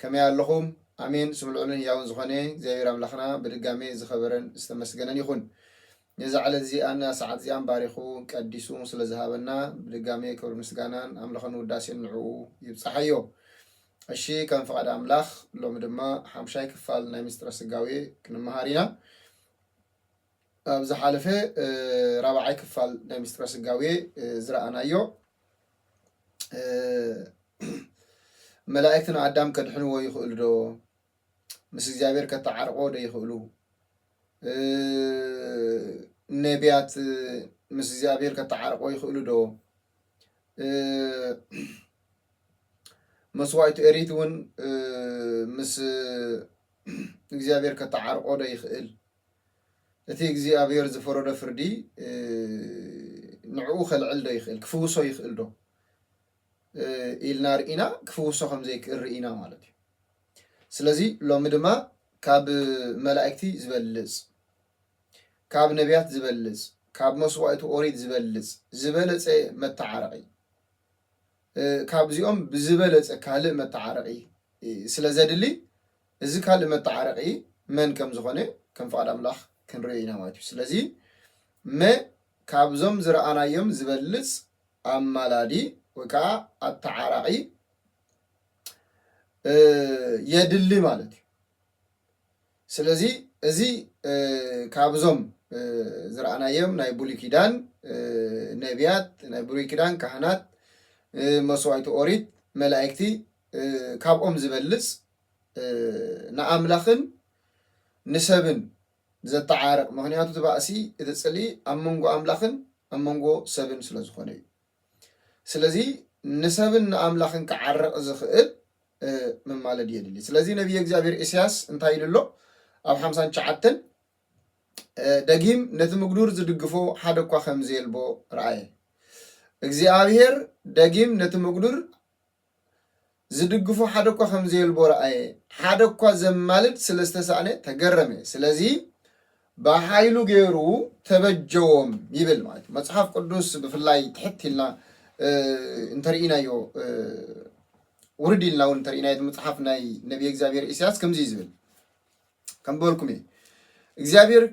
ከመይ ኣለኹም ኣሜን ስሙ ልዑልን ህያውን ዝኾነ እግዚኣብሔር ኣምላኽና ብድጋሜ ዝኸበረን ዝተመስገነን ይኹን ነዛ ዕለት እዚኣን ነዛ ሰዓት እዚኣን ባሪኹ ቀዲሱ ስለ ዝሃበና ብድጋሜ ክብሪ ምስጋናን ኣምልኾን ውዳሴን ንዕኡ ይብጻሓዮ እሺ ከም ፍቓድ ኣምላኽ ሎሚ ድማ ሓምሻይ ክፋል ናይ ምስጢረ ስጋዌ ክንመሃር ኢና ኣብ ዝሓለፈ ራብዓይ ክፋል ናይ ምስጢረ ስጋዌ ዝረኣናዮ መላእክቲ ንኣዳም ከድሕንዎ ይኽእሉ ዶ? ምስ እግዚኣብሔር ከተዓርቕዎ ዶ ይኽእሉ? ነቢያት ምስ እግዚኣብሔር ከተዓርቕዎ ይኽእሉ ዶ? መስዋእቲ ኤሪት እውን ምስ እግዚኣብሔር ከተዓርቆ ዶ ይኽእል? እቲ እግዚኣብሔር ዝፈረዶ ፍርዲ ንዕኡ ከልዕል ዶ ይኽእል ክፍውሶ ይኽእል ዶ ኢልና ርኢና ክፍውሶ ከም ዘይክእል ርኢና ማለት እዩ። ስለዚ ሎሚ ድማ ካብ መላእክቲ ዝበልጽ ካብ ነቢያት ዝበልጽ ካብ መስዋእቲ ኦሪት ዝበልጽ ዝበለጸ መተዓረቒ ካብዚኦም ብዝበለጸ ካልእ መተዓረቒ ስለ ዘድሊ እዚ ካልእ መተዓረቒ መን ከም ዝኾነ ከም ፍቓድ ኣምላኽ ክንርእዮ ኢና ማለት እዩ። ስለዚ መ ካብዞም ዝረኣናዮም ዝበልጽ ኣማላዲ ወይ ከዓ ኣተዓራቒ የድሊ ማለት እዩ። ስለዚ እዚ ካብዞም ዝረኣናዮም ናይ ብሉይ ኪዳን ነቢያት፣ ናይ ብሉይ ኪዳን ካህናት፣ መስዋእቲ ኦሪት፣ መላእክቲ ካብኦም ዝበልጽ ንኣምላኽን ንሰብን ዘተዓርቕ ምክንያቱ እቲ ባእሲ እቲ ጽልኢ ኣብ መንጎ ኣምላኽን ኣብ መንጎ ሰብን ስለ ዝኾነ እዩ ስለዚ ንሰብን ንኣምላኽን ክዓርቕ ዝኽእል መማለድ የድሊ ስለዚ ነቢይ እግዚኣብሔር ኢሳያስ እንታይ ኢሉ ኣሎ ኣብ ሓምሳን ትሽዓተን ደጊም ነቲ ምግዱር ዝድግፎ ሓደ እኳ ከምዘየልቦ ረኣየ እግዚኣብሔር ደጊም ነቲ ምግዱር ዝድግፎ ሓደ እኳ ከም ዘየልቦ ረኣየ፣ ሓደ እኳ ዘማልድ ስለ ዝተሳእነ ተገረመ፣ ስለዚ ብሓይሉ ገይሩ ተበጀዎም ይብል ማለት እዩ። መጽሓፍ ቅዱስ ብፍላይ ትሕት ኢልና እንተርኢናዮ ውርድ ኢልና እውን እንተርኢናዮ መጽሓፍ ናይ ነቢየ እግዚኣብሔር ኢሳያስ ከምዚ እዩ ዝብል ከም በልኩም እዩ እግዚኣብሔር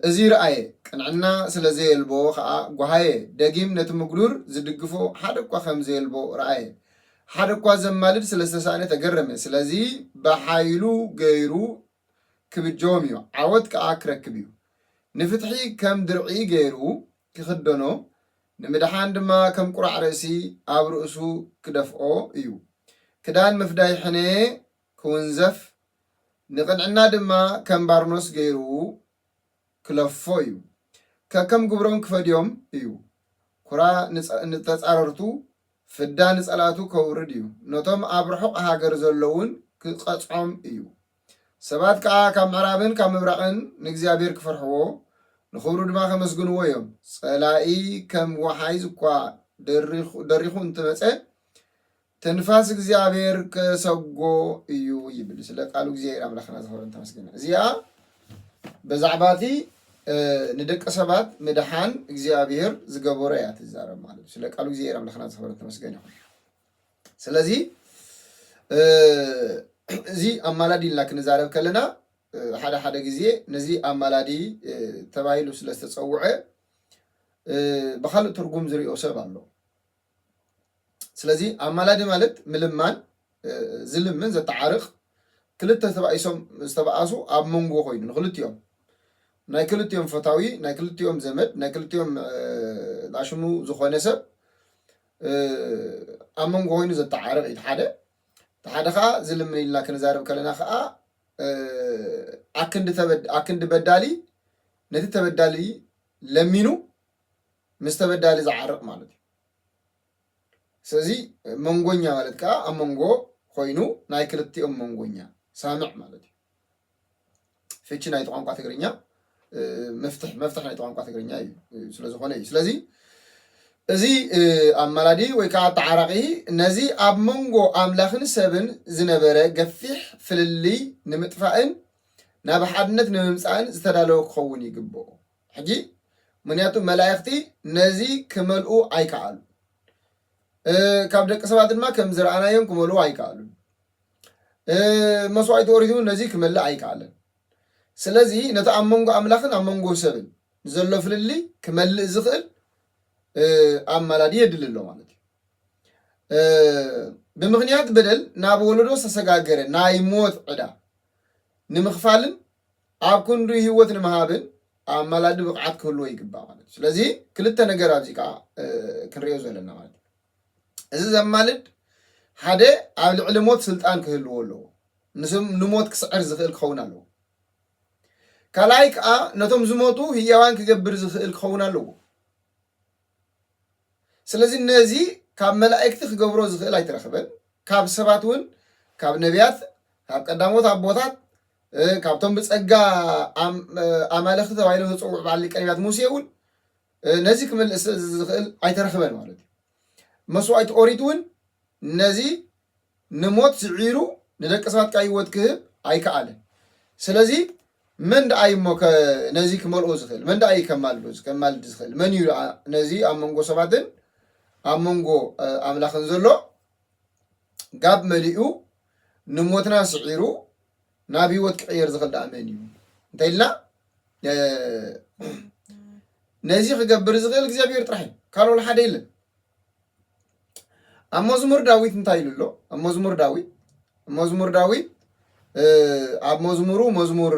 እዚ ረኣየ ቅንዕና ስለ ዘየልቦ ከዓ ጓሃየ ደጊም ነቲ ምጉዱር ዝድግፎ ሓደ እኳ ከም ዘየልቦ ረኣየ ሓደ እኳ ዘማልድ ስለ ዝተሳእነ ተገረመ ስለዚ ብሓይሉ ገይሩ ክብጀዎም እዩ ዓወት ከዓ ክረክብ እዩ ንፍትሒ ከም ድርዒ ገይሩ ክኽደኖ ንምድሓን ድማ ከም ቁራዕ ርእሲ ኣብ ርእሱ ክደፍኦ እዩ ክዳን ምፍዳይ ሕነ ክውንዘፍ፣ ንቕንዕና ድማ ከም ባርኖስ ገይሩ ክለፎ እዩ። ከከም ግብሮም ክፈድዮም እዩ። ኵራ ንተጻረርቱ፣ ፍዳ ንጸላእቱ ከውርድ እዩ፣ ነቶም ኣብ ርሑቕ ሃገር ዘለዉን ክቐጽዖም እዩ። ሰባት ከኣ ካብ ምዕራብን ካብ ምብራቕን ንእግዚኣብሄር ክፈርሕዎ፣ ንኽብሩ ድማ ከመስግንዎ እዮም። ጸላኢ ከም ወሓይዝ እኳ ደሪኹ እንተመጸ፣ ትንፋስ እግዚኣብሔር ከሰጎ እዩ ይብል ስለ ቃሉ እግዚኣብሔር ኣምላክና ዝኸበረን ተመስገነ እዚኣ በዛዕባ እቲ ንደቂ ሰባት ምድሓን እግዚኣብሔር ዝገበሮ እያ ትዛረብ ማለት ስለ ቃሉ እግዚኣብሔር ኣምላክና ዝኸበረን ተመስገነ ይኹን ስለዚ እዚ ኣማላዲ ኢልና ክንዛረብ ከለና ሓደ ሓደ ግዜ ነዚ ኣማላዲ ተባሂሉ ስለ ዝተፀውዐ ብካልእ ትርጉም ዝሪኦ ሰብ ኣሎ ስለዚ ኣማላዲ ማለት ምልማን ዝልምን ዘተዓርቕ ክልተ ተባኢሶም ዝተባኣሱ ኣብ መንጎ ኮይኑ ንክልቲኦም ናይ ክልቲኦም ፈታዊ ናይ ክልቲኦም ዘመድ ናይ ክልቲኦም ዳሽሙ ዝኾነ ሰብ ኣብ መንጎ ኮይኑ ዘተዓርቕ እዩ ሓደ ሓደ ከዓ ዝልምን ኢልና ክንዛረብ ከለና ከዓ ኣክንዲ በዳሊ ነቲ ተበዳሊ ለሚኑ ምስ ተበዳሊ ዝዓርቕ ማለት እዩ። ስለዚ መንጎኛ ማለት ከዓ ኣብ መንጎ ኮይኑ ናይ ክልቲኦም መንጎኛ ሳምዕ ማለት እዩ። ፍቺ ናይቲ ቋንቋ ትግርኛ መፍትሕ መፍትሕ ናይቲ ቋንቋ ትግርኛ እዩ ስለዝኾነ እዩ። ስለዚ እዚ ኣማላዲ ወይ ከዓ ተዓራቂ ነዚ ኣብ መንጎ ኣምላኽን ሰብን ዝነበረ ገፊሕ ፍልልይ ንምጥፋእን ናብ ሓድነት ንምምፃእን ዝተዳለወ ክኸውን ይግብኦ። ሕጂ ምክንያቱ መላእክቲ ነዚ ክመልኡ ኣይከኣሉን። ካብ ደቂ ሰባት ድማ ከም ዝረኣናዮም ክመልኡ ኣይከኣሉን። መስዋዕቲ ኦሪት እውን ነዚ ክመልእ ኣይከኣለን። ስለዚ ነቲ ኣብ መንጎ ኣምላኽን ኣብ መንጎ ሰብን ዘሎ ፍልልይ ክመልእ ዝኽእል ኣማላዲ የድሊ ኣሎ ማለት እዩ። ብምኽንያት በደል ናብ ወለዶ ዝተሰጋገረ ናይ ሞት ዕዳ ንምኽፋልን ኣብ ክንዱ ሂወት ንምሃብን ኣማላዲ ብቕዓት ክህልዎ ይግባእ ማለት እዩ። ስለዚ ክልተ ነገር ኣብዚ ከዓ ክንሪኦ ዘለና ማለት እዩ። እዚ ዘማልድ ሓደ ኣብ ልዕሊ ሞት ስልጣን ክህልዎ ኣለዎ። ምስ ንሞት ክስዕር ዝኽእል ክኸውን ኣለዎ። ካልኣይ ከዓ ነቶም ዝሞቱ ህያዋን ክገብር ዝኽእል ክኸውን ኣለዎ። ስለዚ ነዚ ካብ መላእክቲ ክገብሮ ዝኽእል ኣይተረኽበን፣ ካብ ሰባት እውን ካብ ነቢያት ካብ ቀዳሞት ኣቦታት ካብቶም ብጸጋ ኣማልኽቲ ተባሂሎም ዝጽውዑ በዓል ሊቀ ነቢያት ሙሴ እውን ነዚ ክምልእስ ዝኽእል ኣይተረኽበን ማለት እዩ። መስዋዕቲ ኦሪት እውን ነዚ ንሞት ስዒሩ ንደቂ ሰባት ከኣ ህይወት ክህብ ኣይከኣለን። ስለዚ መን ደኣ እዩ እሞ ነዚ ክመልኦ ዝኽእል? መን ደኣ እዩ ከማልዶ ከማልድ ዝኽእል? መን እዩ ደኣ ነዚ ኣብ መንጎ ሰባትን ኣብ መንጎ ኣምላኽን ዘሎ ጋብ መሊኡ ንሞትና ስዒሩ ናብ ህይወት ክቕየር ዝኽእል ደኣ መን እዩ እንተኢልና ነዚ ክገብር ዝኽእል እግዚኣብሔር ጥራሕ እዩ ካልኦል ሓደ የለን ኣብ መዝሙር ዳዊት እንታይ ኢሉ ኣሎ? ኣብ መዝሙር ዳዊት መዝሙር ዳዊት ኣብ መዝሙሩ መዝሙር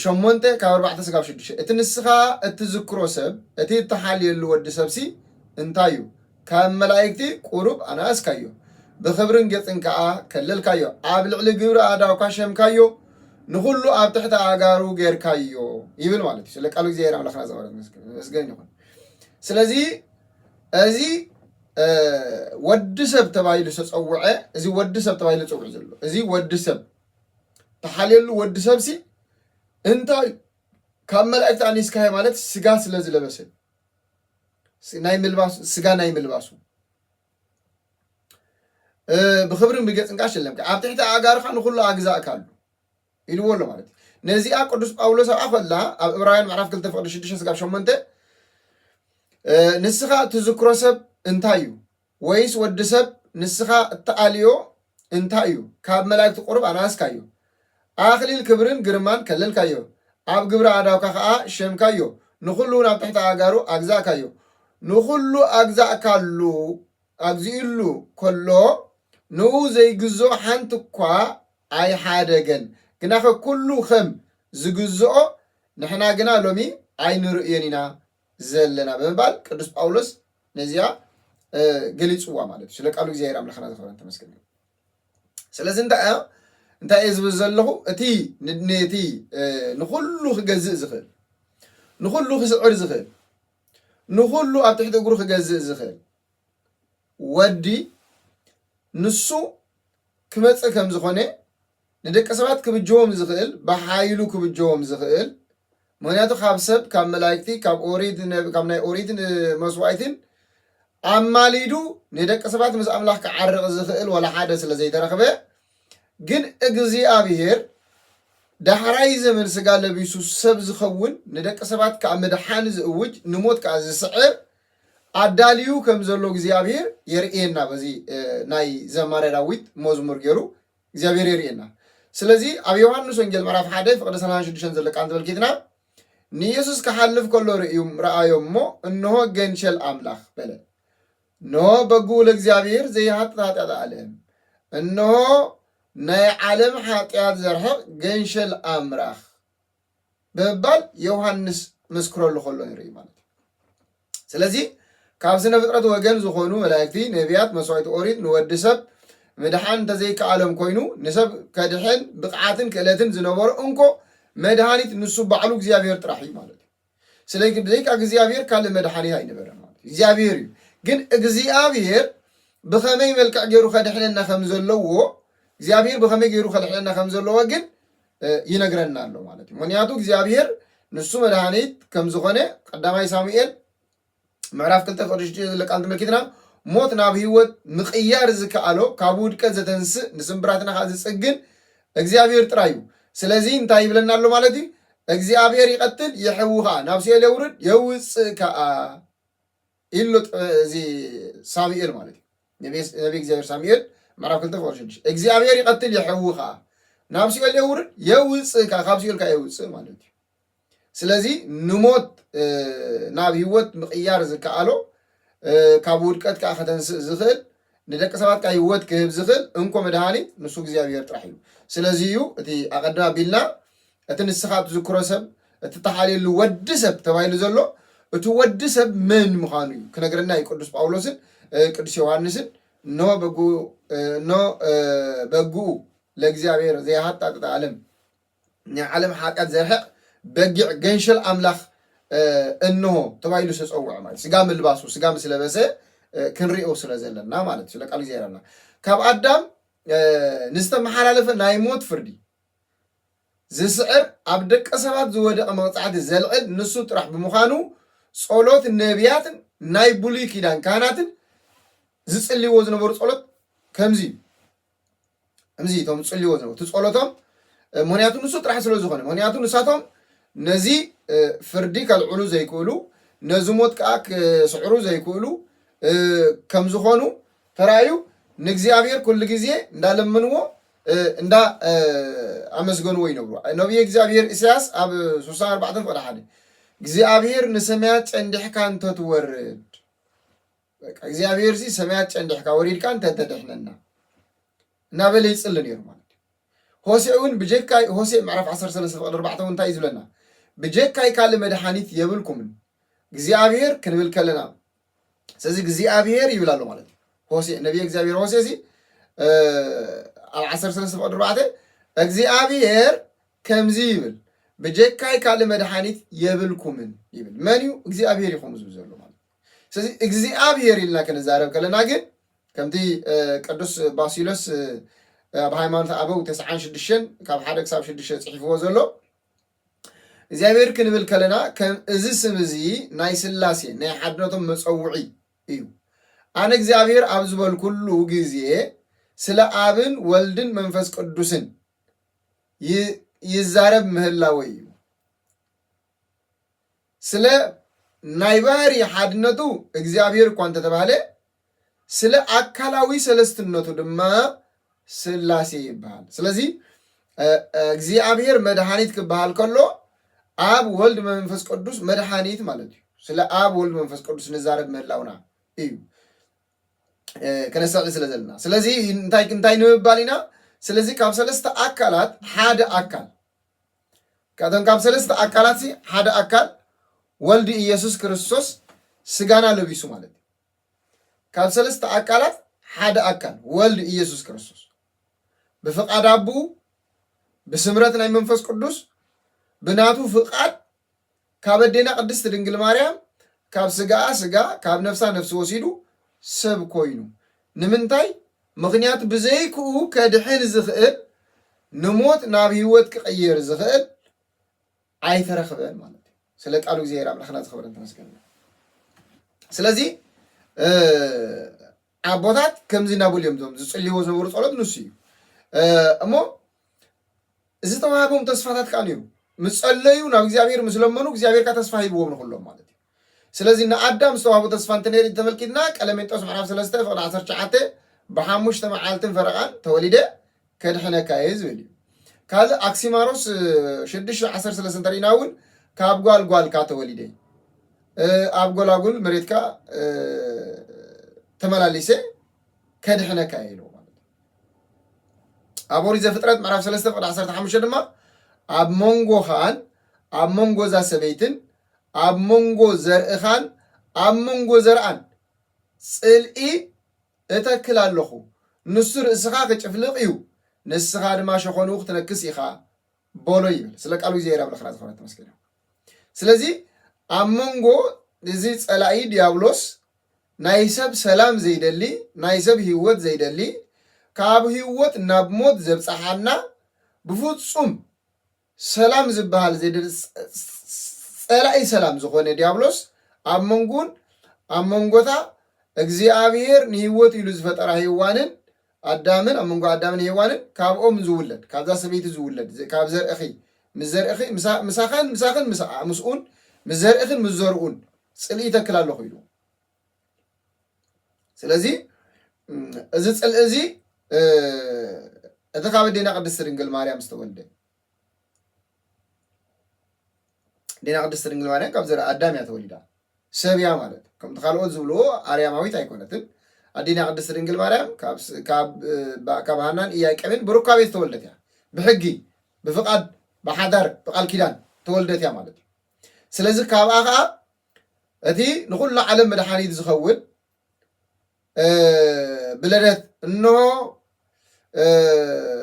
ሸሞንተ ካብ ኣርባዕተ ስጋብ ሽዱሽተ እቲ ንስኻ እትዝክሮ ሰብ እቲ እትሓልየሉ ወዲ ሰብሲ እንታይ እዩ? ካብ መላእክቲ ቁሩብ ኣነኣስካዮ፣ ብኽብርን ጌጽን ከኣ ከለልካዮ። ኣብ ልዕሊ ግብሪ ኣእዳውካ ሸምካዮ፣ ንኹሉ ኣብ ትሕቲ ኣእጋሩ ጌርካዮ ይብል ማለት እዩ። ስለ ቃሉ እግዚኣብሔር ኣምላኽና ዘበረት መስገን ይኹን። ስለዚ እዚ ወዲ ሰብ ተባሂሉ ዝተፀውዐ እዚ ወዲ ሰብ ተባሂሉ ዝፅውዕ ዘሎ እዚ ወዲ ሰብ ተሓልየሉ ወዲ ሰብሲ እንታይ ካብ መላእክቲ ኣኒስካ እየ ማለት ስጋ ስለ ዝለበሰ ናይ ምልባሱ ስጋ ናይ ምልባሱ ብክብርን ብገፅን ከዓ ሽለምካ ኣብ ትሕቲ ኣእጋርካ ንኩሉ ኣግዛእካሉ ኢልዎ ኣሎ ማለት እዩ ነዚኣ ቅዱስ ጳውሎስ ኣብኣ ከላ ኣብ እብራውያን ምዕራፍ 2 ፍቅዲ 6 ስጋብ 8 ንስኻ እትዝክሮ ሰብ እንታይ እዩ ወይስ ወዲ ሰብ ንስኻ እትኣልዮ እንታይ እዩ ካብ መላእክቲ ቁርብ ኣናእስካዮ ኣኽሊል ክብርን ግርማን ከለልካዮ ኣብ ግብሪ ኣዳውካ ከዓ ሸምካዮ ንኹሉ እውን ኣብ ትሕቲ ኣጋሩ ኣግዛእካዮ ንኹሉ ኣግዛእካሉ ኣግዚእሉ ከሎ ንኡ ዘይግዞ ሓንቲ እኳ ኣይሓደገን ግናኸ ኩሉ ኸም ዝግዝኦ ንሕና ግና ሎሚ ኣይንርእዮን ኢና ዘለና ብምባል ቅዱስ ጳውሎስ ነዚኣ ገሊጽዋ ማለት እዩ ስለ ቃሉ እግዚኣብሔር ኣምላኽና ዝኸበረን ተመስገን ይሁን ስለዚ እንታይ እያ እንታይ እየ ዝብል ዘለኹ እቲ እቲ ንኹሉ ክገዝእ ዝኽእል ንኹሉ ክስዕር ዝኽእል ንኹሉ ኣብ ትሕቲ እግሩ ክገዝእ ዝኽእል ወዲ ንሱ ክመጽእ ከም ዝኾነ ንደቂ ሰባት ክብጀዎም ዝኽእል ብሓይሉ ክብጀዎም ዝኽእል ምክንያቱ ካብ ሰብ ካብ መላእክቲ ካብ ኦሪት ነብ- ካብ ናይ ኦሪትን መስዋእትን ኣማሊዱ ንደቂ ሰባት ምስ ኣምላኽ ክዓርቕ ዝኽእል ወላ ሓደ ስለ ዘይተረኽበ ግን እግዚኣብሔር ዳሕራይ ዘመን ስጋ ለቢሱ ሰብ ዝኸውን ንደቂ ሰባት ከዓ ምድሓን ዝእውጅ ንሞት ከዓ ዝስዕር ኣዳልዩ ከም ዘሎ እግዚኣብሄር የርእየና በዚ ናይ ዘማርያ ዳዊት መዝሙር ጌሩ እግዚኣብሄር የርእየና ስለዚ ኣብ ዮሃንስ ወንጌል ምዕራፍ ሓደ ፍቅዲ ሰላሳን ሽዱሽተን ዘሎ ቃል ተመልኪትና ንየሱስ ክሓልፍ ከሎ ርእዩም ረኣዮም እሞ እንሆ ገንሸል ኣምላኽ በለ እንሆ በግኡ ለእግዚኣብሄር ዘይሃጥት ኃጢኣት ዓለም እንሆ ናይ ዓለም ኃጢኣት ዘርሕቕ ገንሸል ኣምላኽ ብምባል ዮውሃንስ ክምስክረሉ ከሎ ንርኢ ማለት እዩ ስለዚ ካብ ስነ ፍጥረት ወገን ዝኾኑ መላእክቲ ነቢያት መስዋዕቲ ኦሪት ንወዲ ሰብ ምድሓን እንተዘይከኣሎም ኮይኑ ንሰብ ከድሕን ብቕዓትን ክእለትን ዝነበሮ እንኮ መድሃኒት ንሱ ባዕሉ እግዚኣብሔር ጥራሕ እዩ ማለት እዩ ስለዚ ብዘይካ እግዚኣብሔር ካልእ መድሓኒ ኣይነበረን ማለት እዩ። እግዚኣብሔር እዩ። ግን እግዚኣብሔር ብኸመይ መልክዕ ገይሩ ከድሕነና ከም ዘለዎ እግዚኣብሔር ብኸመይ ገይሩ ከድሕነና ከም ዘለዎ ግን ይነግረና ኣሎ ማለት እዩ። ምክንያቱ እግዚኣብሔር ንሱ መድሃኒት ከም ዝኾነ ቀዳማይ ሳሙኤል ምዕራፍ ክልተ ቁጥሪ ሽዱሽተ ዘሎ ቃል ተመልኪትና ሞት ናብ ህይወት ምቕያር ዝከኣሎ ካብ ውድቀት ዘተንስእ ንስምብራትና ከዓ ዝፅግን እግዚኣብሔር ጥራይ እዩ። ስለዚ እንታይ ይብለና ኣሎ ማለት እዩ? እግዚኣብሔር ይቐትል የሕዊ ከዓ ናብ ሲኦል የውርድ የውፅእ ከዓ ኢሎ እዚ ሳሙኤል ማለት እዩ ነቢ እግዚኣብሔር ሳሙኤል ምዕራፍ ክልተ ቁጥሪ ሽዱሽተ እግዚኣብሔር ይቐትል የሕዊ ከዓ ናብ ሲኦል የውርድ የውፅእ ከዓ ካብ ሲኦል ከዓ የውፅእ ማለት እዩ። ስለዚ ንሞት ናብ ህይወት ምቕያር ዝከኣሎ ካብ ውድቀት ከዓ ከተንስእ ዝኽእል ንደቂ ሰባት ከዓ ህይወት ክህብ ዝኽእል እንኮ መድሃኒት ንሱ እግዚኣብሔር ጥራሕ እዩ ስለዚ እዩ እቲ ኣቐድም ኣቢልና እቲ ንስኻ ትዝክሮ ሰብ እቲ ተሓልየሉ ወዲ ሰብ ተባሂሉ ዘሎ እቲ ወዲ ሰብ መን ምዃኑ እዩ ክነግረና እዩ ቅዱስ ጳውሎስን ቅዱስ ዮሐንስን እኖ በጉ እኖ በግኡ ለእግዚኣብሔር ዘይሃጣጥጥ ዓለም ናይ ዓለም ሓጢኣት ዘርሕቕ በጊዕ ገንሸል ኣምላኽ እንሆ ተባሂሉ ዝተጸውዐ ማለት ስጋ ምልባሱ ስጋ ምስ ለበሰ ክንሪኦ ስለ ዘለና ማለት ስለ ቃል እግዚኣብሔር ኣምላኽ ካብ ኣዳም ንዝተመሓላለፈ ናይ ሞት ፍርዲ ዝስዕር ኣብ ደቂ ሰባት ዝወደቐ መቕጻዕቲ ዘልዕል ንሱ ጥራሕ ብምዃኑ ጸሎት ነቢያትን ናይ ብሉይ ኪዳን ካህናትን ዝጽልይዎ ዝነበሩ ጸሎት ከምዚ እዩ እምዚ እቶም ዝጽልዎ ዘለዉ እቲ ጸሎቶም ምክንያቱ ንሱ ጥራሕ ስለ ዝኾነ ምክንያቱ ንሳቶም ነዚ ፍርዲ ከልዕሉ ዘይክእሉ ነዚ ሞት ከዓ ክስዕሩ ዘይክእሉ ከም ዝኾኑ ተራእዩ ንእግዚኣብሔር ኩሉ ግዜ እንዳለመንዎ እንዳ ኣመስገንዎ ይነብሩ ነቢየ እግዚኣብሔር ኢሳያስ ኣብ 64 ፍቅዲ ሓደ እግዚኣብሔር ንሰማያት ጨንዲሕካ እንተትወርድ በቃ እግዚኣብሔር ሲ ሰማያት ጨንዲሕካ ወሪድካ እንተ ተድሕነና እናበለ ይፅሊ ነይሩ ማለት እዩ ሆሴዕ እውን ብጀካ ሆሴዕ ምዕራፍ 13 ፍቅዲ 4 እውን እንታይ እዩ ዝብለና ብጀካይ ካልእ መድሓኒት የብልኩምን እግዚኣብሔር ክንብል ከለና ስለዚ እግዚኣብሔር ይብል ኣሎ ማለት እዩ ሆሴዕ ነቢየ እግዚኣብሔር ሆሴዕ ሲ እ፣ ኣብ 13 ፍቅዲ 4 እግዚኣብሔር ከምዚ ይብል ብጀካይ ካልእ መድሓኒት የብልኩምን ይብል መን እዩ እግዚኣብሔር ይኹም ዝብል ዘሎ ማለት እዩ። ስለዚ እግዚኣብሔር ኢልና ክንዛረብ ከለና ግን ከምቲ ቅዱስ ባሲሎስ ኣብ ሃይማኖት ኣበው ተስዓን ሽዱሽተን ካብ ሓደ ክሳብ ሽዱሽተ ፅሒፍዎ ዘሎ እግዚኣብሔር ክንብል ከለና ከም እዚ ስም እዚ ናይ ስላሴ ናይ ሓድነቶም መፀውዒ እዩ ኣነ እግዚኣብሔር ኣብ ዝበልኩሉ ግዜ ስለ ኣብን ወልድን መንፈስ ቅዱስን ይዛረብ ምህላወ እዩ ስለ ናይ ባህሪ ሓድነቱ እግዚኣብሔር እኳ እንተተባህለ ስለ ኣካላዊ ሰለስትነቱ ድማ ስላሴ ይበሃል። ስለዚ እግዚኣብሔር መድኃኒት ክበሃል ከሎ ኣብ ወልድ መንፈስ ቅዱስ መድኃኒት ማለት እዩ። ስለ ኣብ ወልድ መንፈስ ቅዱስ ንዛረብ ምህላውና እዩ ከነስተውዕል ስለ ዘለና። ስለዚ እንታይ እንታይ ንምባል ኢና? ስለዚ ካብ ሰለስተ ኣካላት ሓደ ኣካል ካብቶም ካብ ሰለስተ ኣካላት ሓደ ኣካል ወልድ ኢየሱስ ክርስቶስ ስጋና ለቢሱ ማለት እዩ። ካብ ሰለስተ ኣካላት ሓደ ኣካል ወልድ ኢየሱስ ክርስቶስ ብፍቃድ ኣቡ ብስምረት ናይ መንፈስ ቅዱስ ብናቱ ፍቃድ ካብ ኣዴና ቅድስት ድንግል ማርያም ካብ ስጋኣ ስጋ ካብ ነፍሳ ነፍሲ ወሲዱ ሰብ ኮይኑ ንምንታይ ምኽንያቱ ብዘይክኡ ከድሕን ዝኽእል ንሞት ናብ ህይወት ክቕይር ዝኽእል ኣይተረኽበን ማለት እዩ ስለ ቃሉ እግዚኣብሔር ኣምላኽና ዝኸበረን ተመስገን ስለዚ ኣቦታት ከምዚ ናቡል እዮም እዞም ዝጽልይዎ ዝነበሩ ጸሎት ንሱ እዩ እሞ እዚ ተዋህቦም ተስፋታት ከዓ ነይሩ ምስ ጸለዩ ናብ እግዚኣብሔር ምስ ለመኑ እግዚኣብሔር ከዓ ተስፋ ሂብዎም ንኩሎም ማለት እዩ ስለዚ ንኣዳም ዝተዋህቦ ተስፋ እንተነይሩ እንተመልኪትና ቀለሜንጦስ ምዕራፍ ሰለስተ ፍቅዲ ዓሰርተ ትሽዓተ ብሓሙሽተ መዓልትን ፈረቃን ተወሊደ ከድሕነካ እየ ዝብል እዩ ካልእ ኣክሲማሮስ ሽዱሽተ ዓሰርተ ሰለስተ እንተሪእና እውን ካብ ጓል ጓልካ ተወሊደ ኣብ ጎላጉል መሬትካ ተመላሊሰ ከድሕነካ እየ ኢልዎ ማለት እዩ ኣብ ኦሪት ዘፍጥረት ምዕራፍ ሰለስተ ፍቅዲ ዓሰርተ ሓሙሽተ ድማ ኣብ መንጎኻን ኣብ መንጎ እዛ ሰበይትን ኣብ መንጎ ዘርእኻን ኣብ መንጎ ዘርኣን ጽልኢ እተክል ኣሎኹ፣ ንሱ ርእስኻ ኺጭፍልቕ እዩ፣ ንስኻ ድማ ሸኾንኡ ክትነክስ ኢኻ በሎ ይብል። ስለ ቃሉ እግዚኣብሔር ኣምላኽና ዝኸበረ ተመስገን ይኹን። ስለዚ ኣብ መንጎ እዚ ጸላኢ ዲያብሎስ ናይ ሰብ ሰላም ዘይደሊ፣ ናይ ሰብ ህይወት ዘይደሊ፣ ካብ ህይወት ናብ ሞት ዘብጽሓና ብፍጹም ሰላም ዝበሃል ዜድሊ ጸላኢ ሰላም ዝኾነ ዲያብሎስ ኣብ መንጉን ኣብ መንጎታ እግዚኣብሔር ንህይወት ኢሉ ዝፈጠራ ሔዋንን ኣዳምን ኣብ መንጎ ኣዳምን ሔዋንን ካብኦም ዝውለድ ካብዛ ሰበይቲ ዝውለድ ካብ ዘርእኺ ምስ ዘርእኺ ምሳኸን ምሳኽን ምስኡን ምስ ዘርእኽን ምስ ዘርኡን ጽልኢ ይተክል ኣለኹ ኢሉ ስለዚ እዚ ፅልኢ እዚ እቲ ካብ ኣዴና ቅድስቲ ድንግል ማርያም ዝተወልደ ዴና ቅድስቲ ድንግል ማርያም ካብ ዘርኢ ኣዳም እያ ተወሊዳ ሰብ እያ ማለት ከምቲ ካልኦት ዝብልዎ ኣርያማዊት ኣይኮነትን ኣዴና ቅድስቲ ድንግል ማርያም ካብ ሃናን ኢያቄምን ብሩካቤ ዝተወልደት እያ ብሕጊ ብፍቃድ ብሓዳር ብቃል ኪዳን ተወልደት እያ ማለት እዩ ስለዚ ካብኣ ከዓ እቲ ንኹሉ ዓለም መድሓኒት ዝኸውን ብለደት እንሆ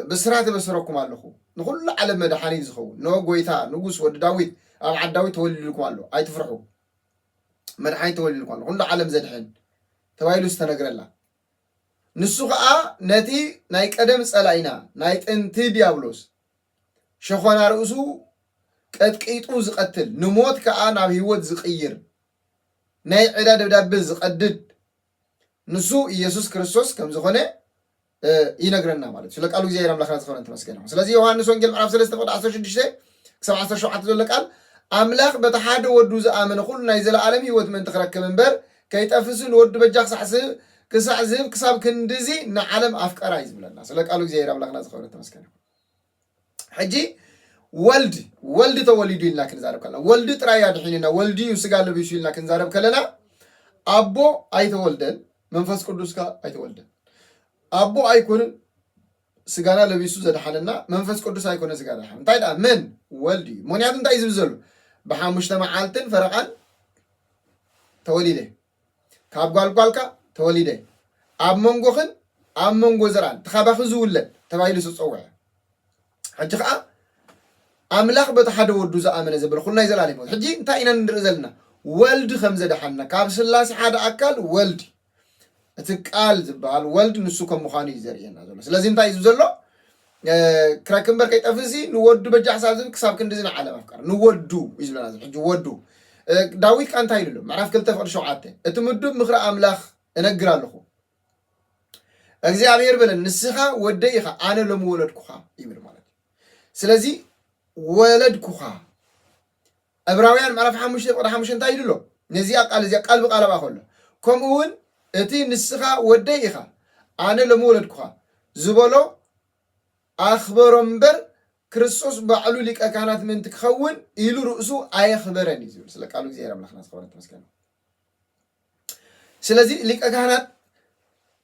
ብስራት የበስረኩም ኣለኹ ንኹሉ ዓለም መድሓኒት ዝኸውን እንሆ ጎይታ ንጉስ ወዲ ዳዊት ኣብ ዓዲ ዳዊት ተወሊድልኩም ኣሎ ኣይትፍርሑ መድሓኒት ተወሊድልኩም ኣሎ ኩሉ ዓለም ዘድሕን ተባሂሉ ዝተነግረላ ንሱ ከዓ ነቲ ናይ ቀደም ፀላኢና ናይ ጥንቲ ዲያብሎስ ሸኾና ርእሱ ቀጥቂጡ ዝቐትል፣ ንሞት ከኣ ናብ ህይወት ዝቕይር፣ ናይ ዕዳ ደብዳበ ዝቐድድ ንሱ ኢየሱስ ክርስቶስ ከም ዝኾነ ይነግረና ማለት እዩ። ስለ ቃሉ እግዚኣብሔር ኣምላኽና ዝኸበረን ተመስገን ይኹን። ስለዚ ዮሐንስ ወንጌል ምዕራፍ 3 ቁጥሪ 16 ክሳብ 17 ዘሎ ቃል ኣምላኽ በቲ ሓደ ወዱ ዝኣመነ ኩሉ ናይ ዘለኣለም ህይወት ምእንቲ ክረክብ እምበር ከይጠፍሲ ንወዱ በጃ ክሳዕ ዝህብ ክሳዕ ዝህብ ክሳብ ክንድዚ ንዓለም ኣፍቀራ እዩ ዝብለና። ስለ ቃሉ እግዚኣብሔር ኣምላኽና ዝኸበረን ተመስገን ይኹን። ሕጂ ወልድ ወልድ ተወሊዱ ኢልና ክንዛረብ ከለና ወልድ ጥራይ ኣድሒንና ወልድ እዩ ስጋ ለቢሱ ኢልና ክንዛረብ ከለና ኣቦ ኣይተወልደን መንፈስ ቅዱስ ከ ኣይተወልደን ኣቦ ኣይኮንን ስጋና ለቢሱ ዘድሓነና መንፈስ ቅዱስ ኣይኮነ ስጋ ዘድሓነ እንታይ ደኣ መን ወልድ እዩ ምክንያቱ እንታይ እዩ ዝብል ዘሎ ብሓሙሽተ መዓልትን ፈረቓን ተወሊደ ካብ ጓል ጓልካ ተወሊደ ኣብ መንጎኽን ኣብ መንጎ ዘርኣን እቲ ካባኺ ዝውለድ ተባሂሉ ዝተጸውዐ ሕጂ ከዓ ኣምላኽ በቲ ሓደ ወዱ ዝኣመነ ዘበለ ኩሉ ናይ ዘላለም ህይወት ሕጂ እንታይ ኢና ንርኢ ዘለና ወልድ ከም ዘድሓና ካብ ስላሴ ሓደ ኣካል ወልድ እቲ ቃል ዝበሃል ወልድ ንሱ ከም ምዃኑ እዩ ዘርእየና ዘሎ ስለዚ እንታይ እዩ ዘሎ ክረክብ እምበር ከይጠፍእ ሲ ንወዱ በጃ ክሳብ ዝብል ክሳብ ክንድዚ ንዓለም ኣፍቀረ ንወዱ እዩ ዝብለና ዘሎ ሕጂ ወዱ ዳዊት ከ እንታይ ኢሉ ኣሎ ምዕራፍ ክልተ ፍቅዲ ሸውዓተ እቲ ምዱብ ምክሪ ኣምላኽ እነግር ኣለኹ እግዚኣብሔር በለን ንስኻ ወደይ ኢኻ ኣነ ሎሚ ወለድኩኻ ይብል ማለት እዩ ስለዚ ወለድኩኻ ዕብራውያን ምዕራፍ ሓሙሽተ ቁጥሪ ሓሙሽተ እንታይ ኢሉ ኣሎ? ነዚኣ ቃል እዚኣ ቃል ብቓል ኣብኣ ኸሎ፣ ከምኡውን እቲ ንስኻ ወደይ ኢኻ፣ ኣነ ሎሚ ወለድኩኻ ዝበሎ ኣኽበሮ እምበር፣ ክርስቶስ ባዕሉ ሊቀ ካህናት ምእንቲ ክኸውን ኢሉ ርእሱ ኣየኽበረን እዩ ዝብል። ስለ ቃሉ እግዚኣብሄር ኣምላኽና ዝኸበረን ተመስገንን። ስለዚ ሊቀ ካህናት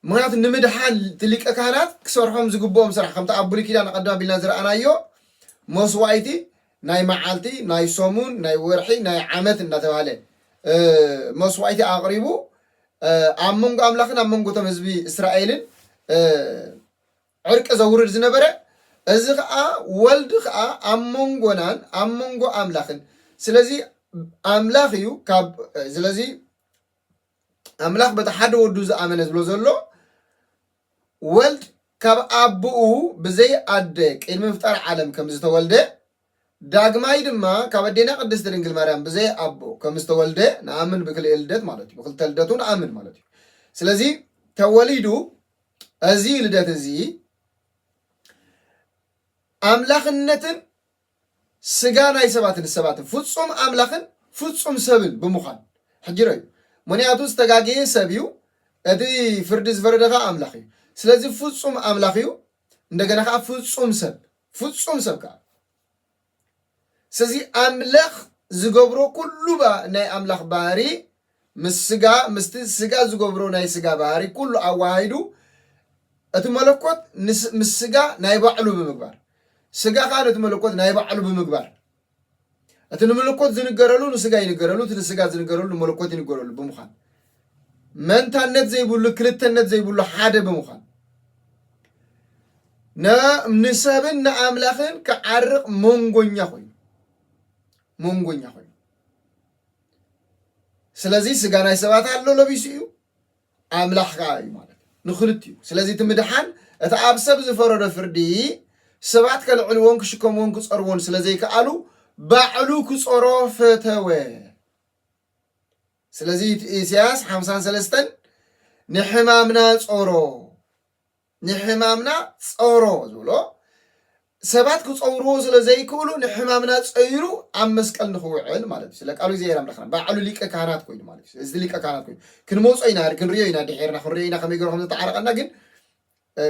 ምክንያቱ ንምድሓን እቲ ሊቀ ካህናት ክሰርሖም ዝግብኦም ስራሕ ከምቲ ኣብ ብሉይ ኪዳን ኣቐድም ኣቢልና ዝረኣናዮ መስዋእቲ ናይ መዓልቲ ናይ ሰሙን ናይ ወርሒ ናይ ዓመት እናተባሃለ እ፣ መስዋእቲ ኣቕሪቡ እ፣ ኣብ መንጎ ኣምላኽን ኣብ መንጎ እቶም ህዝቢ እስራኤልን እ፣ ዕርቂ ዘውርድ ዝነበረ፣ እዚ ኸኣ ወልድ ኸኣ ኣብ መንጎናን ኣብ መንጎ ኣምላኽን ስለዚ ኣምላኽ እዩ ካብ ስለዚ ኣምላኽ በቲ ሓደ ወዱ ዝኣመነ ዝብሎ ዘሎ ወልድ ካብ ኣቦኡ ብዘይ ኣደ ቅድሚ ምፍጣር ዓለም ከም ዝተወልደ ዳግማይ ድማ ካብ ኣዴና ቅድስት ድንግል ማርያም ብዘይ ኣቦ ከም ዝተወልደ ንኣምን ብክልኤ ልደት ማለት እዩ ብክልተ ልደቱ ንኣምን ማለት እዩ ስለዚ ተወሊዱ እዚ ልደት እዚ ኣምላኽነትን ስጋ ናይ ሰባትን ሰባትን ፍጹም ኣምላኽን ፍጹም ሰብን ብምዃን ሕጂ ረዩ ምክንያቱ ዝተጋገየ ሰብ እዩ እቲ ፍርዲ ዝፈረደ ከዓ ኣምላኽ እዩ ስለዚ ፍጹም ኣምላኽ እዩ እንደገና ከኣ ፍጹም ሰብ ፍጹም ሰብ ከኣ ስለዚ ኣምላኽ ዝገብሮ ኩሉ ናይ ኣምላኽ ባህሪ ምስ ስጋ ምስቲ ስጋ ዝገብሮ ናይ ስጋ ባህሪ ኩሉ ኣዋሃሂዱ እቲ መለኮት ምስ ስጋ ናይ ባዕሉ ብምግባር ስጋ ከዓ ነቲ መለኮት ናይ ባዕሉ ብምግባር እቲ ንምልኮት ዝንገረሉ ንስጋ ይንገረሉ፣ እቲ ንስጋ ዝንገረሉ ንመለኮት ይንገረሉ ብምዃን መንታነት ዘይብሉ ክልተነት ዘይብሉ ሓደ ብምዃን ንሰብን ንኣምላኽን ክዓርቕ መንጎኛ ኮይኑ መንጎኛ ኮይኑ ስለዚ ስጋ ናይ ሰባት ኣሎ ለቢሱ እዩ ኣምላኽ ከኣ እዩ ማለት እዩ ንክልቲኡ። ስለዚ እቲ ምድሓን እቲ ኣብ ሰብ ዝፈረዶ ፍርዲ ሰባት ከልዕልዎን ክሽከምዎን ክጸርዎን ስለ ዘይከኣሉ ባዕሉ ክጾሮ ፈተወ። ስለዚ እቲ ኢሳያስ ሓምሳን ሰለስተን ንሕማምና ጾሮ ንሕማምና ጸሮ ዝብሎ፣ ሰባት ክጸውርዎ ስለ ዘይክእሉ ንሕማምና ጸይሩ ኣብ መስቀል ንኽውዕል ማለት እዩ። ስለ ቃሉ እግዚኣብሔር ኣምላኽና ባዕሉ ሊቀ ካህናት ኮይኑ ማለት እዩ። እዚ ሊቀ ካህናት ኮይኑ ክንመጾ ኢና ክንሪዮ ኢና ድሒርና ክንሪዮ ኢና ከመይ ገሩ ከም ዝተዓረቀና ግን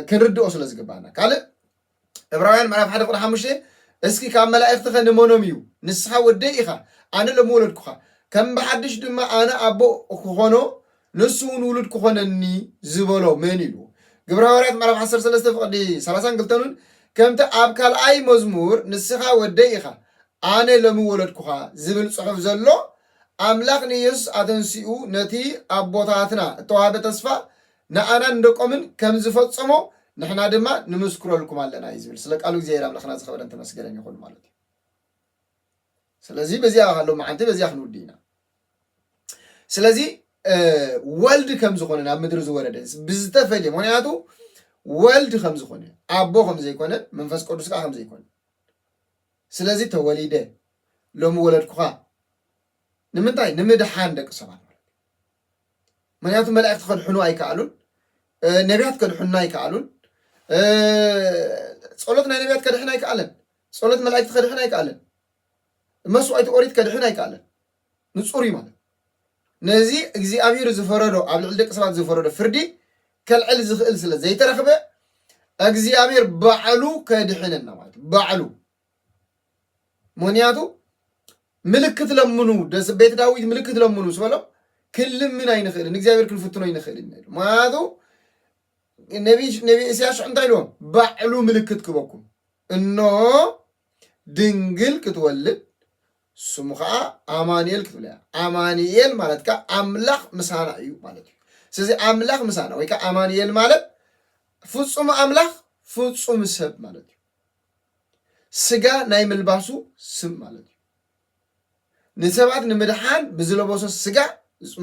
ክንርድኦ ስለ ዝግባና ካልእ ዕብራውያን ምዕራፍ ሓደ ቁጥሪ ሓሙሽተ እስኪ ካብ መላእኽትኸ ንመኖም እዩ ንስኻ ወደይ ኢኻ ኣነ ሎሚ ወለድኩኻ ከም ብሓድሽ ድማ ኣነ ኣቦ ክኾኖ ንሱ እውን ውሉድ ክኾነኒ ዝበሎ መን ኢሉ ግብረ ሃዋርያት ምዕራፍ ዓሰርተ ሰለስተ ፍቕዲ ሰላሳን ክልተን እውን ከምቲ ኣብ ካልኣይ መዝሙር ንስኻ ወደይ ኢኻ ኣነ ሎሚ ወለድኩኻ ዝብል ጽሑፍ ዘሎ ኣምላኽ ንኢየሱስ ኣተንሲኡ ነቲ ኣቦታትና እተዋህበ ተስፋ ንኣናን ንደቆምን ከም ዝፈጸሞ ንሕና ድማ ንምስክረልኩም ኣለና እዩ ዝብል ስለ ቃሉ እግዚኣብሔር ኣምላክና ዝኸበረን ተመስገነን ይኹን ማለት እዩ ስለዚ በዚኣ ካሎ መዓንቲ በዚኣ ክንውዲ ኢና ስለዚ ወልድ ከም ዝኾነ ናብ ምድሪ ዝወረደ ብዝተፈልየ ምክንያቱ ወልድ ከም ዝኾነ ኣቦ ከም ዘይኮነ መንፈስ ቅዱስ ከዓ ከም ዘይኮነ ስለዚ ተወሊደ ሎሚ ወለድኩኻ ንምንታይ ንምድሓን ደቂ ሰባት ማለት ምክንያቱ መላእክቲ ከድሕኑ ኣይከኣሉን፣ ነቢያት ከድሕኑና ኣይከኣሉን፣ ጸሎት ናይ ነቢያት ከድሕን ኣይከኣለን፣ ጸሎት መላእክቲ ከድሕን ኣይከኣለን፣ መስዋእቲ ኦሪት ከድሕን ኣይከኣለን። ንጹር እዩ ማለት ነዚ እግዚኣብሔር ዝፈረዶ ኣብ ልዕሊ ደቂ ሰባት ዝፈረዶ ፍርዲ ከልዕል ዝኽእል ስለ ዘይተረኽበ እግዚኣብሔር ባዕሉ ከድሕነና ማለት ባዕሉ ምክንያቱ ምልክት ለምኑ ቤት ዳዊት ምልክት ለምኑ ምስ በሎም ክንልምን ኣይንኽእልን እግዚኣብሔር ክንፍትኖ ኣይንኽእልን ኢሉ ምክንያቱ ነቢ እስያስ ሽዑ እንታይ ኢልዎም ባዕሉ ምልክት ክበኩም እኖ ድንግል ክትወልድ ስሙ ከዓ ኣማንኤል ክትብለ ኣማንኤል ማለት ከዓ ኣምላኽ ምሳና እዩ ማለት እዩ ስለዚ ኣምላኽ ምሳና ወይ ከዓ ኣማንኤል ማለት ፍፁም ኣምላኽ ፍፁም ሰብ ማለት እዩ ስጋ ናይ ምልባሱ ስም ማለት እዩ። ንሰባት ንምድሓን ብዝለበሶ ስጋ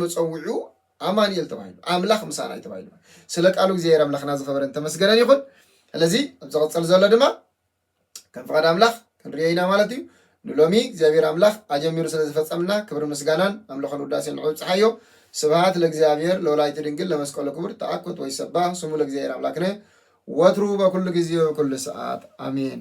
መፀውዒኡ ኣማኑኤል ተባሂሉ ኣምላኽ ምሳና እዩ ተባሂሉ ስለ ቃሉ እግዚኣብሔር ኣምላኽና ዝኸበረን ተመስገነን ይኹን። ስለዚ ኣብ ዝቕፅል ዘሎ ድማ ከም ፍቓድ ኣምላኽ ክንሪኦ ኢና ማለት እዩ። ንሎሚ እግዚኣብሔር ኣምላክ ኣጀሚሩ ስለ ዘፈጸምና ክብርን ምስጋናን ኣምልኾን ውዳሴን ንዑ ኣብጽሓዮ ስብሃት ለእግዚኣብሔር ለወላዲቱ ድንግል ለመስቀሉ ክቡር ተኣኮት ወይሰባህ ስሙ ለእግዚኣብሔር ኣምላክነ ወትሩ በኩሉ ጊዜ ወበኩሉ ሰዓት ኣሜን።